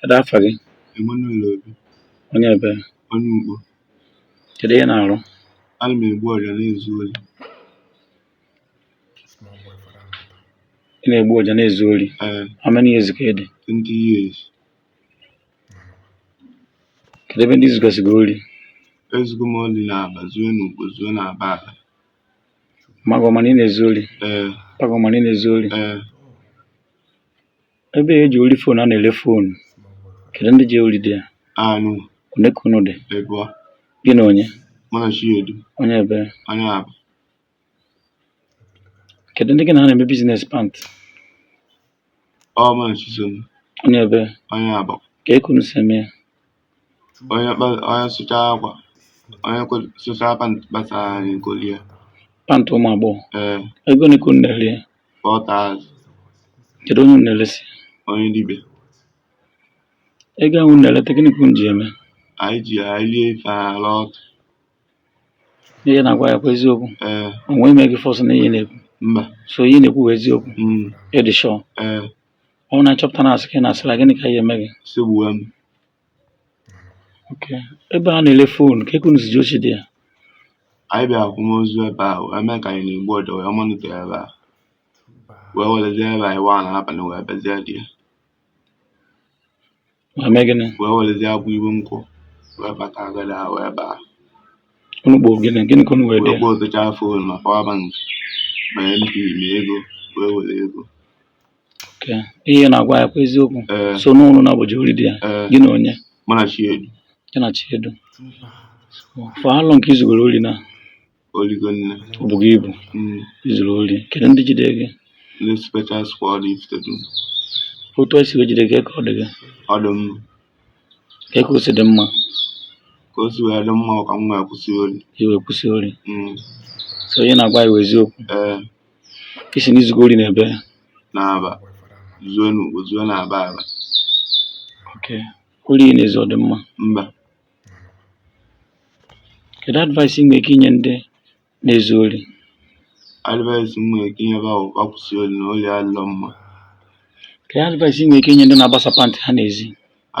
Kedụ afa gị? Emmanuel Obi. Onye ebe? Onye Ukpo. Kedụ ihe ị na-arụ? Ana m egbu ọja na-ezu ori. Ị na-egbu ọja na-ezu ori? Ee. How many years ka ị dị? 20 years. Kedụ ebe ndị i zugasịgo ori? Ezugo m ori na Aba, zuo na Ukpo, zuo na Aba Aba. Ma gị ọ ma na ị na-ezu ori? Ee. Pa gị ọ ma na ị na-ezu ori? Ee. Ebe e je ori fon a na-ere fon kedu ndị je ori there anyị one ka unu dị ịbụọ gị na onye mụ na Chiedu onye ebe onye Aba kedu ndị gị na ha na-eme business pant ọ mụ na Chisom onye ebe onye Aba kee ka unu si eme ya onye kpa onye sụchaa akwa onye sụchaa pant gbasa anyị kolie pant ụmụ agbọghọ ee ego one ka unu na-ere ya 4,000 kedu onye unu na-eresi onye dibịa ego ahụ unu na-ereta gịnị ka unu ji eme anyị ji ya eli ife ala ọtụ ihe ị na-agwa anyị ọ kwa eziokwu ee o nwe onye me gị force n'ihe ị na-ekwu mba so ihe ị na-ekwu bụ eziokwu mm, ị dị sure ee ọ bụrụ na a chọpụta na asị ka ị na-asịra gịnị ka a ya-eme gị sị e gbuo m okay. ebe a na-ele fon kee ka unu si je oshi there anyị bịara akwamozu ebe a wee mee ka anyị na-egbu ọja wee monitor ebe a wee werezie ebe anyị waa n'abalị wee bịazie there Wee mee gịnị? wee werezie akwụ iwe nkwụ wee bata agada ha wee baa Unu kpọọ gịnị? Gịnị ka unu were there? kpọtachaa fon ma power bank ma MP ma ego wee were ego Okay ihe ị na-agwa anyị ọ kwa eziokwu. ee So unu naabọ je ori there. ee Gị na onye? mụ na Chiedu Gị na Chiedu. For how long ka i zugoro ori now? o ligo nne ọ bụ gị ibu mm. i zuru ori kedu ndị jide gị ndị special squad Ifitedunu otu e si wee jide gị ka ọ dị gị ọ dị mma kee ka o si dị mma ka o si wee dị mma ka m wee kwụsị ori i wee kwụsị ori mm. so ihe ị na-agwa anyị bụ eziokwu ee ị sị na i zugo ori n'ebe n'Aba zuo n'Ukpo zuo n'Aba Aba okay ori ị na-ezu ọ dị mma mba Kedụ advice ị nwere ike inye ndị na-ezu ori? Advice m nwere ike inye bụ ha kwụsị ori na ori adịrọ mma. Kedụ advice ị nwere ike inye ndị na-agbasa pantị ha n'ezi?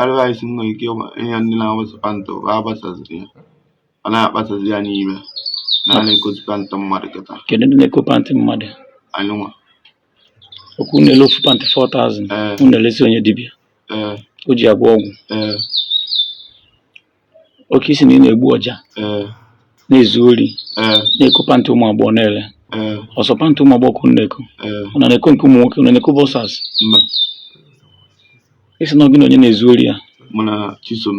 Advice m nwere ike inye ndị na-agbasa pantị bụ agbasaziri ya. A na-agbasazi ya n'ime. Na a na-ekozi pantị mmadụ kịta. Kedụ ndị na-eko pantị mmadụ? Anyịnwa. ok unu na-ele ofu pantị 4000 Mm. unu na-elesi onye dibịa Mm. o ji agwọ ọgwụ Mm. ok ị sị na ị na-egbu ọja Mm. na-ezu ori Mm. na-eko pantị ụmụ agbọghọ na-ele Mm. ọ sọ pantị ụmụ agbọghọ ka unu na-eko Mm. unu na-eko nke ụmụ nwoke unu na-eko boxers Mba. ị sị na ọ gị na onye na-ezu ori a Mụ na Chisom.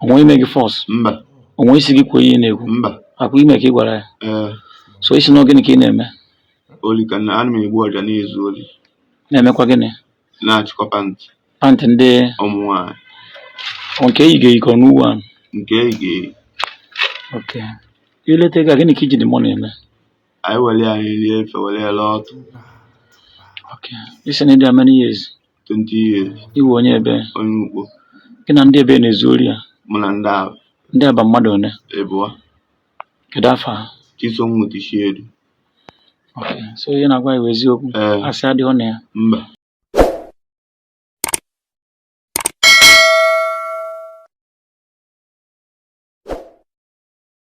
o nwere onye me gị force mba o nwere onye sị gị kwuo ihe ị na-ekwu mba ọ kwa ihe me ka ị gwara ya so ị sị na gịnị ka ị na-eme oli ka na ana m egbu ọja na-ezu oli na-emekwa gịnị na-achịkọ pantị pantị ndị ụmụ nwaanyị nke e yigo eyi ka ọ new one nke e yigo eyi ok i leta ego a gịnị ka i ji the money eme anyị were ya anyị rie ife were ya laa ọtụ ok ị sị na ị dị how many years 20 years ị wụ onye ebee onye ugbo gị na ndị ebee na-ezu ori a mụ na ndị Aba ndị Aba mmadụ one ịbụọ kedu afa ha Chisom mụtishiedu Okay, so ihe ị na-agwa anyị wụ eziokwu ee asị adịghị na ya mba